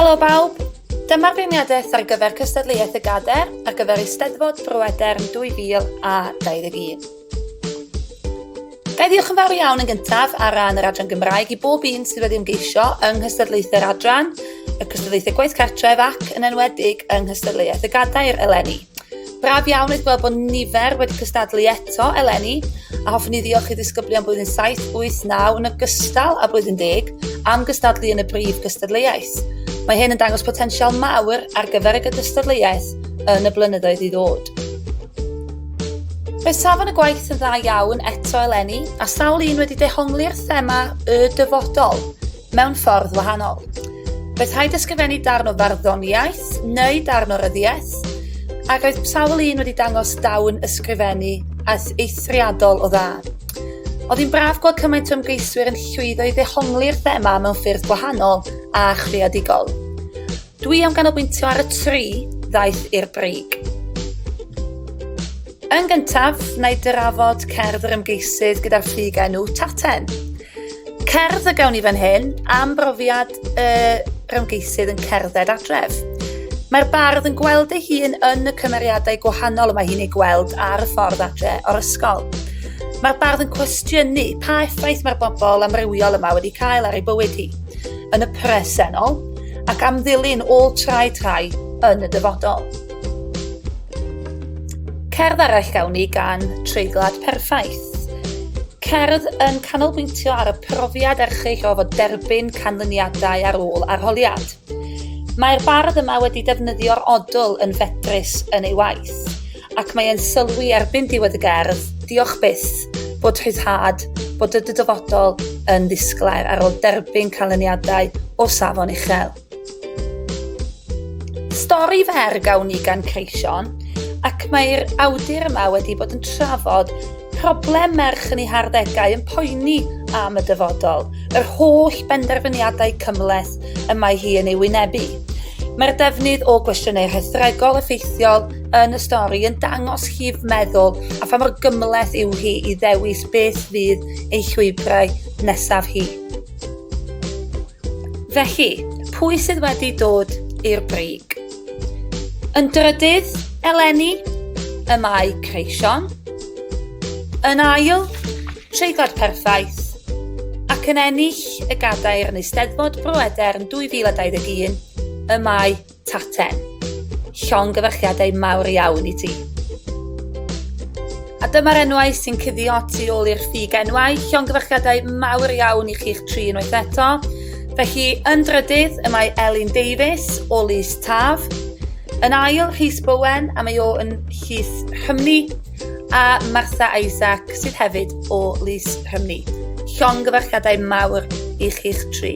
Helo bawb! Dyma'r beirniadaeth ar gyfer cystadleuaeth y gader ar gyfer Eisteddfod Bro-Edern 2021. Ga i ddiolch yn fawr iawn yn gyntaf ar ran yr Adran Gymraeg i bob un sydd wedi ymgeisio yng nghystadleuthau'r Adran, y cystadleuthau gwaith cartref ac, yn enwedig, yng nghystadleuaeth y gadair eleni. Braf iawn eich gweld bod nifer wedi cystadlu eto eleni, a hoffwn i ddiolch i ddisgyblion blwyddyn 7, 8, 9 yn ogystal â blwyddyn 10 am gystadlu yn y brif gystadleuaeth. Mae hyn yn dangos potensial mawr ar gyfer y gystadleuaeth yn y blynyddoedd i ddod. Mae safon y gwaith yn dda iawn eto eleni, a sawl un wedi dehongli'r thema y dyfodol. mewn ffordd wahanol. Fe rhaid ysgrifennu darn o farddoniaeth neu darn o ryddiaeth, a roedd sawl un wedi dangos dawn ysgrifennu aeth eithriadol o dda. Oedd hi'n braf gweld cymaint o ymgeiswyr yn llwyddo i ddehongli'r thema mewn ffyrdd gwahanol a chreadigol. Dwi am ganolbwyntio ar y tri ddaeth i'r brig. Yn gyntaf, na i drafod cerdd yr ymgeisydd gyda'r ffug enw Taten. Cerdd y gawn ni fan hyn am brofiad y rymgeisydd yn cerdded adref. Mae'r bardd yn gweld ei hun yn y cymeriadau gwahanol y mae hi'n ei gweld ar y ffordd adre o'r ysgol. Mae'r bardd yn cwestiynu pa effaith mae'r bobl amrywiol yma wedi cael ar ei bywyd hi. Yn y presennol, ac am ddilyn ôl trai trai yn y dyfodol. Cerdd arall gawn ni gan Treiglad Perffaith. Cerdd yn canolbwyntio ar y profiad erchyll o fod derbyn canlyniadau ar ôl arholiad. Mae'r bardd yma wedi defnyddio'r odl yn fedrus yn ei waith. Ac mae e'n sylwi erbyn diwedd y gerdd, diolch byth, bod rhyddhad, bod y dyfodol yn ddisglair ar ôl derbyn canlyniadau o safon uchel. Stori fer gawn ni gan Creision, ac mae'r awdur yma wedi bod yn trafod problem merch yn ei harddegau yn poeni am y dyfodol, yr holl benderfyniadau cymhleth y mae hi yn ei wynebu. Mae'r defnydd o gwestiynau rhethregol effeithiol yn y stori yn dangos llif meddwl a pha mor gymhleth yw hi i ddewis beth fydd ei llwybrau nesaf hi. Felly, pwy sydd wedi dod i'r brig? Yn drydydd, eleni, y mae creision. Yn ail, treigod perffaith. Ac yn ennill y gadair yn Eisteddfod Bro Edern 2021, y mae Taten. Llongyfarchiadau mawr iawn i ti. A dyma'r enwau sy'n cuddio tu ôl i'r ffug enwau. Llongyfarchiadau mawr iawn i chi'ch tri unwaith eto. Felly, yn drydydd, y mae Elin Davies o Lys Taf. Yn ail, Rhys Bowen, a mae o yn Llys Rhymni. a Martha Isaac sydd hefyd o Lys Rhymni. Llongyfarchiadau mawr i chi'ch tri.